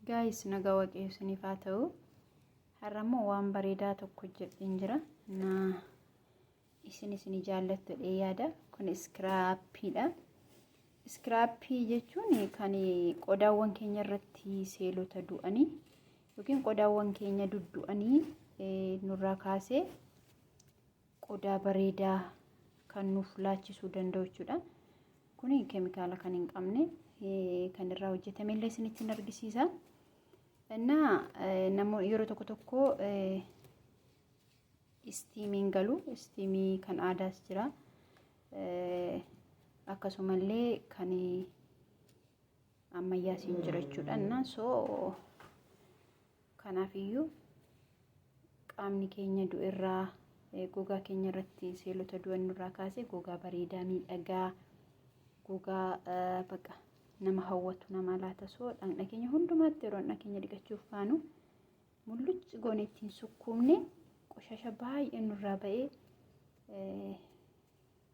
Gaayis nagaa waaqayyo isiniif haa ta'u. Har'a immoo waan bareedaa tokko jedheen jira. Na isin isin jaallattu dhee yaada. Kun iskiraappiidha. Iskiraappii jechuun kan qodaawwan keenya irratti seelota du'anii yookiin qodaawwan keenya duddu'anii nurraa kaasee qodaa bareedaa kan nuuf laachisuu danda'u jechuudha. Kuni keemikaala kan hin qabne kan irraa hojjetame illee isinitti hin argisiisa. Innaa namoonni yeroo tokko tokko istiimiin galu istiimii kan aadaas jira. Akkasumallee kan ammayyaas hin jira jechuudha. Innaa soo Kanaafiyyuu qaamni keenya du'erraa gogaa keenya irratti seelota du'an nurraa kaasee gogaa bareedaa miidhagaa gogaa baqa nama hawwatu nama laata soo dhaqna keenya hundumaatti yeroo dhaqna keenya dhiqachuuf kaanu mullucci goone ittiin sukkuumne qoshasha baay'ee nurraa ba'ee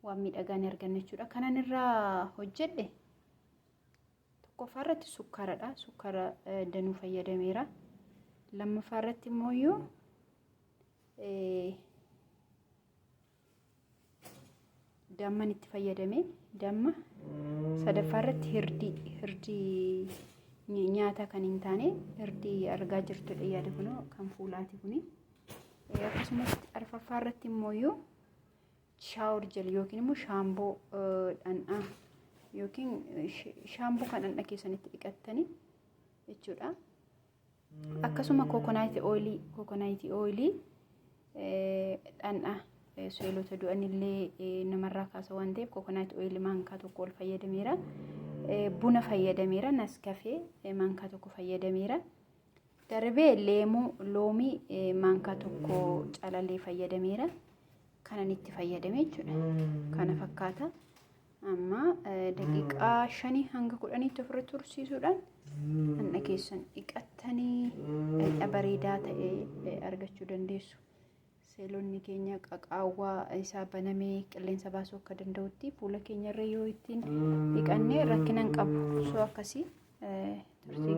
waan miidhagaa ni arganna jechuudha. Kanan irraa hojjedhe tokkoffaa irratti sukkaaradha sukkaara danuu fayyadameera lammaffaa irratti immoo yoo damman itti fayyadame damma sadaffaa irratti hirdii hirdii nyaata kan hin taane hirdii argaa jirtudha yaada kunoo kan fuulaati kuni akkasumas arfaffaa irratti immoo yoo shaawor jel yookiin immoo shaamboo dhandhaa yookiin shaamboo kan dhandha keessanitti dhiqattanii jechuudha. Akkasuma kookonaayitii ooyilii kookonaayitii ooyilii dhandhaa seelota du'anillee namarraa kaasa waan ta'eef kookonaayitii ooyilii maankaa tokko ol fayyadameera. Buna fayyadameera naskafee maankaa tokko fayyadameera. Darbee leemuu loomii maankaa tokko calalee fayyadameera. Kanan itti fayyadame jechuudha. Kana fakkaata. Amma daqiiqaa shanii hanga kudhaniitti ofirra tursiisuudhaan hanna keessan dhiqattanii dhaqna bareedaa ta'e argachuu dandeessu. Seelonni keenya qaqaawwaa isaa banamee qilleensa baasuu akka danda'utti fuula keenyarra yoo ittiin dhiqanne rakkinan qabu. Osoo akkasii turtii